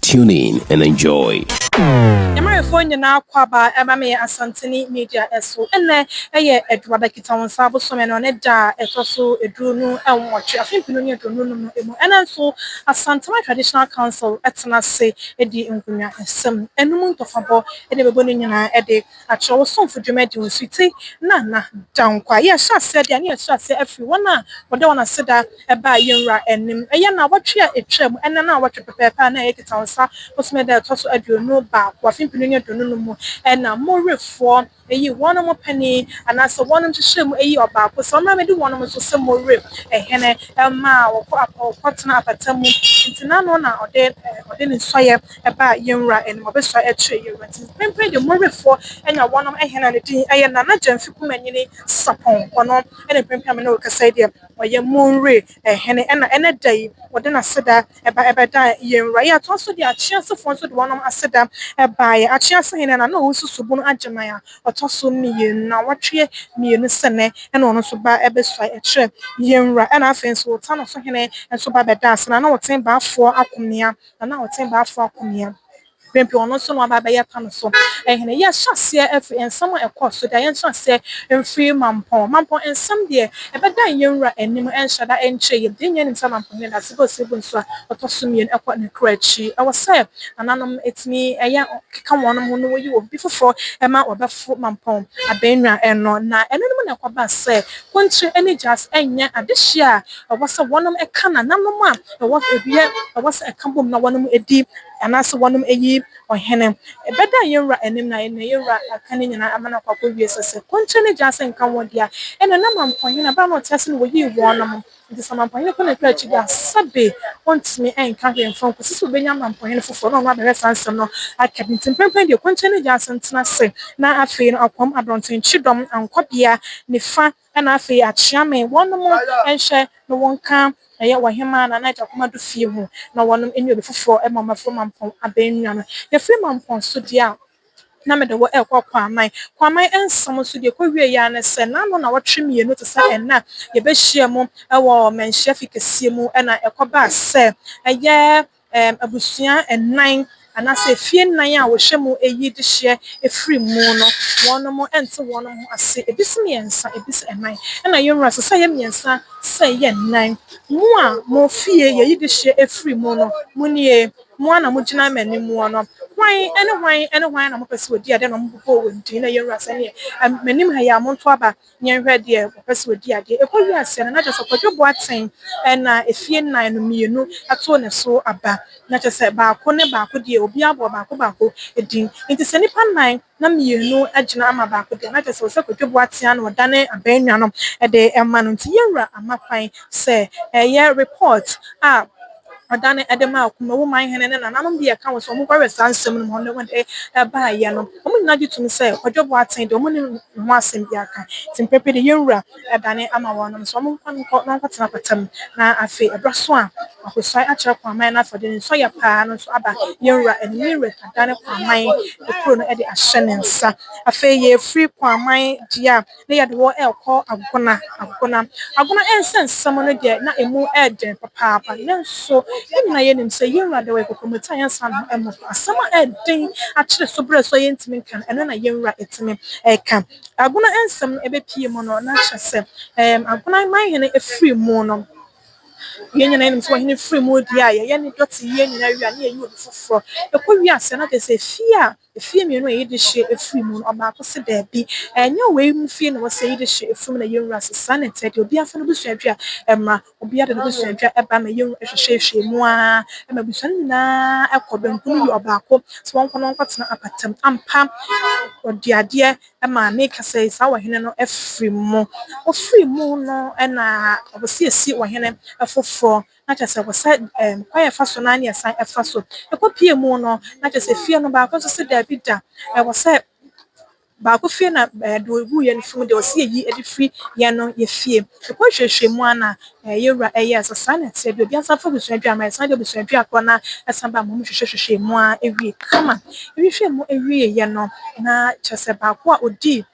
Tune in and enjoy. Yɛmarefoɔ nyinaa akwaaba ɛba me Asanteni Media so. Ɛnnɛ yɛ Adwuada Kitawonsa bosome no ne da a ɛtɔ so aduo nu nwɔtwe afe mpenu ne aduonu num no mu. Ɛnnɛ nso Asantama Traditional Council atena ase adi nkonnwa nsɛm anum ntɔfabɔ na ɛbɛbɔ ne nyinaa de Ka kyerɛ wo somfo dwumadi ho nsuti na na da nkwa. Yɛrehyɛ aseɛ deɛ a, na yɛrehyɛ aseɛ afiri wɔn a wɔde wɔn aseda baa yɛn Wura anim. Ɛyɛ nnawɔtwe a ɛtwa mu, ɛnnɛ nnawɔtwe pɛpɛɛpɛ a na ɛyɛ Kitawonsa bosome da a ɛtɔ so aduonu baako, afe mpenu ne aduonu no mu na mo Werefoɔ yii wɔnom panin, anaasɛ wɔnom hyehyɛɛ mu yii ɔbaako sɛ ɔmmra mmɛdi wɔnom so sɛ mo Were hene, maa wɔkɔ wɔkɔtenaa apata mu. Enti n'ano na ɔde ɔde ne nsɔeɛ baa yɛn wura anim, ɔbɛsɔre kyerɛ yɛn wura ti. Mprempren deɛ Morefoɔ na wɔnom hene a ne din yɛ Nana Gyamfi Kumanyini Sapɔn, ɔno na mprempren a me ne wo rekasa yi deɛ ɔyɛ Monre hene, ɛna ɛnɛ da yi ɔde n'aseda ba bɛdaa yɛn wura. Yɛatoa so de Akyeasefoɔ nso de wɔnom aseda baeɛ. Akyease hene Nana Owusu Subunu Agyeman a ɔtɔ so mmienu, nnawɔtweɛ mmienu sɛ nnɛ ɛna ɔno nso baa bɛsɔre kyerɛ yɛn wura. Ɛna afei nso Wotano so hene nso baa bɛdaa ase, Nana Woten Baafoɔ Akomea na na ɔtse Baafo Akomea mprempren ɔno so na ɔaba abɛyɛ Kano so hene. Yɛhyɛ aseɛ firi nsɛm a ɛkɔɔ so deɛ yɛnkyerɛ aseɛ mfiri Mampɔn. Mampɔn nsɛm deɛ ɛbɛdan yɛn wura anim ɛnhyɛ da ɛnkyerɛ yɛm. Deɛ nyinaa nim sɛ Mampɔn hene da Sibo Sibo nsuo a ɔtɔ so mmienu ɛkɔ ne kura akyi. Ɛwɔ sɛ nananom ɛtumi ɛyɛ keka wɔnom ho na wɔyi obi foforɔ ɛma ɔbɛfo Mampɔn abɛnwa no. Na ɛno nom na ɛkɔbaa sɛ Kontire ɛne Gyasi ɛnyɛ adehyeɛ a ɛwɔ sɛ wɔnom ɛka nananom a Ɛwɔ sɛ ebi yɛ, ɛwɔ sɛ ɛka bom na wɔnom di, anaasɛ wɔnom yi ɔhene. Ɛbɛda yɛn wura anim na yɛn wura aka ne nyinaa ama no akɔ akowie. Sɛ sɛ kontire ne gyaase nka wɔn di a, ɛnneɛ na mampohene, ɛberɛ a na ɔte ase no wɔyii wɔn nom. Enti sɛ mampohene kɔ n'akyi akyiri a, sɛbe ɔntumi nka hwee mfa nkɔsi sɛ ɔbɛnya mampohene foforɔ na ɔno abɛhwɛ saa nsɛm no aka bi. Enti mprempren deɛ kontire ne gyaase ntena ase, na afei no akoam adɔntonkye dɔm ankɔ bea nifa Ɛna afei akyea me wɔnom nhwɛ no wo nka ɛyɛ wɔhemaa Nana Agyakom Ado fie ho na wɔnom nni obi foforɔ ma wɔaforo Mampɔn abɛnnwa no. Yɛfiri Mampɔn so deɛ a na mede wo rekɔ Kwaman. Kwaman nsɛm nso deɛ ɛkɔ wieeɛ ara ne sɛ na ano nnawɔtwe mmienu te sɛ ɛnnɛ a yɛbɛhyiam wɔ manhyiafi kɛseɛ mu na ɛkɔbaa sɛ ɛyɛ ɛɛm abusua nnan anaasɛ efie nnan a wɔhwɛ mu ɛyi dehyeɛ ɛfiri mu no wɔnom mo ɛnte wɔnom ho ase ebi se mmiɛnsa ebi se nnan ɛna yɛn wura se sɛ ɛyɛ mmiɛnsa sɛ ɛyɛ nnan mo a mo fie yɛyi dehyeɛ ɛfiri mu no mo nie mo ara na mo gyina m'animuɔ no hwan ɛne hwan ɛne hwan na mo pɛ sɛ wɔdi adeɛ na wɔn bobɔ wɔn din na yɛn wura se ɛneɛ ɛm m'anim ha yi a monto aba Yɛnhwɛ deɛ ɔpɛ sɛ ɔdi adeɛ. Ɛkɔ yi aseɛ no, na kyerɛ sɛ Kwadwo Boateng na efie nnan no mmienu too ne so aba. Na kyerɛ sɛ baako ne baako deɛ, obiara bɔɔ baako baako din. Enti sɛ nnipa nnan na mmienu agyina ama baako deɛ, na kyerɛ sɛ ɛwɔ sɛ Kwadwo Boateng ara na ɔdane abaanuanom de ma no. Enti Yawura ama kwan sɛ ɛyɛ report a Ɔda no ɛde maa ɔko mu. Wo man hene ne nananom de yɛ ka wo sɛ wɔbɛwɛn saa nsɛm no mu hɔ no na wɔde baeɛ no. Wɔn nyinaa gye tom sɛ Kwadwo Boateng deɛ wɔnni ne ho asɛm biara ka. Nti mprɛ pii no yɛn wura dane ama wɔnom sɛ wɔmfa no nkɔ na wɔnkɔtena apata mu. Na afei ɛberɛ so a Akosua akyerɛ Kwaaman no afɔdeɛ no nso ayɛ paa no nso aba yɛn wura anim. Yɛn wura adane Kwaaman kuro no de ahyɛ ne nsa. Afei yɛfiri Kwaaman deɛ a. na yɛde wɔn rekɔ agona, agona. Agona nsɛnsɛm no deɛ, na ɛmu yɛ dɛ papaapa. Nanso, yɛn nyinaa yɛnim sɛ yɛn Wura de ɔyɛ kokomoti a yɛnsan ne ho mmɔfra. Asɛm a ɛyɛ den akyere so berɛ so a yɛntumi nka no, ɛno na yɛn Wura tumi ka. Agona nsɛm no ɛbɛpue mu no, na kyerɛ sɛ, ɛɛm, agona man hene firi mu no, yɛn nyinaa yɛnim sɛ ɔhene firi mu deɛ a, yɛyɛ ne dɔteyɛ nyinaa wie a, na yɛyi obi foforɔ. Ɛkɔ wiase a, na kyerɛ sɛ fie a Efie mmienu a ɛyɛ de hye afiri mu no, ɔbaako se daabi, ɛnyɛ wei mu fie na ɛwɔ sɛ yɛyi de hye afiri mu na yɛnwura ase. Saa na ɛteɛ deɛ. Obiara mfa n'abusua adwa mmra. Obiara de n'abusua adwa ɛba ma yɛnwura ɛhwehwɛhwɛ mu ara ma abusua no nyinaa kɔ. Banku no yɛ ɔbaako, sɛ wɔnkɔ na wɔnkɔtena apata mu. Ampa, ɔde adeɛ maa ne kasa yi, saa ɔhene no afiri mu. Ɔfiri mu no na ɔpɛ sɛ yɛsi ɔhene foforɔ na kyerɛ sɛ wɔsɛ ɛɛm kwan a ɛfa so no ara na ɛsan ɛfa so. Ɛkɔ pie mu no, na kyerɛ sɛ fie no baako nso se daabi da, ɛwɔ sɛ baako fie na ɛɛ deɛ ɔgu yɛn funu deɛ ɔse yɛyi de firi yɛn no yɛ fie. Ɛkɔ nhwɛhwɛ mu ara na ɛɛ yɛn wura ɛyɛɛ sɛ saa na ɛteɛ deɛ obiara nsa fa abusua dua ma ɛsan de abusua dua korɔ no ara ɛsan ba ma wɔn hwehwɛ hwehwɛɛ mu ara ɛwie kama. Ɛhwehwɛɛ mu ɛwieɛ no, na kyerɛ sɛ baako a ɔdii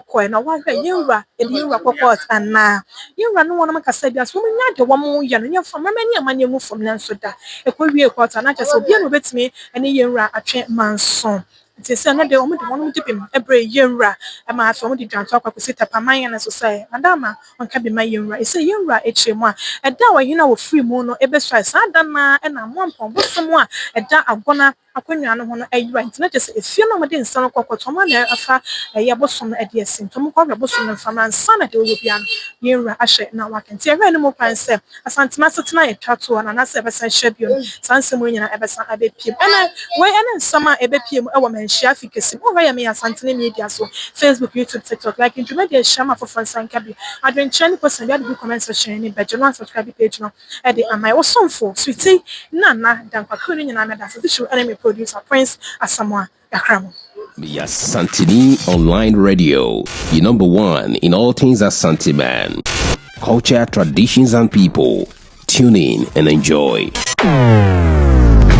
kɔe na wɔahwɛ yɛn wura de yɛn wura kɔ kɔɔt anaa. Yɛn wura ne wɔnom kasa bi ase, wɔn nya deɛ wɔn yɛ no nyɛ fam, mɛmɛ ne ɛma no ngu fam, nanso da ɛkɔ wie kɔɔt a na kyerɛ sɛ obiara na obetumi ne yɛn wura atwe manso. Nti sɛ ɛnɛ de wɔn de wɔnom de bem brɛ yɛn wura ma afei wɔn de dwanto akɔ akɔsi tapaman no so sɛ Madama ɔnka bi ma yɛn wura. Ɛsei yɛn wura akyire mu a ɛda a ɔhene a ɔfiri mu no ɛbɛsuae saa da no ara na Amoampɔn bosom a ɛda Agona akonnwa no ho no ayera, enti na kyerɛ sɛ efie no a wɔde nsa no kɔ kɔtɔn mu a na afa bɛyɛ bosom no de asi, nti wɔkɔhwɛ bosom no mframa ansa na deɛ ɔwɔ biara no yɛn wura ahyɛ na waka. Enti ɛhwɛɛ no mu kwan sɛ Asanteme asetena a ɛtwa toɔ no anaasɛ ɛbɛsan ahyia bio no, saa nsɛm wei nyinaa ɛbɛsan abɛpiem. Ɛnnɛ, wei ne nsɛm a ɛbɛpie mu wɔ Manhyia Afi kɛse mu. Wohwɛ yɛn Meyɛ Asantene Media so, Facebook, YouTube, TikTok, like dwumadi a ɛhyia ma afoforɔ nsa nka bi. Adwenkyerɛ ne kosua bi ade gu comment section no anim, bɛgye no, na subscribe page no. de amae, wo somfo Sweetie Nana Dankwa crew no nyinaa meda ase titiriw ɛne me producer Prince Asamoah Dakramo. Meyɛ Asanteni Online Radio, your number one in all things Asanteman, culture, traditions and people. Tune in and enjoy.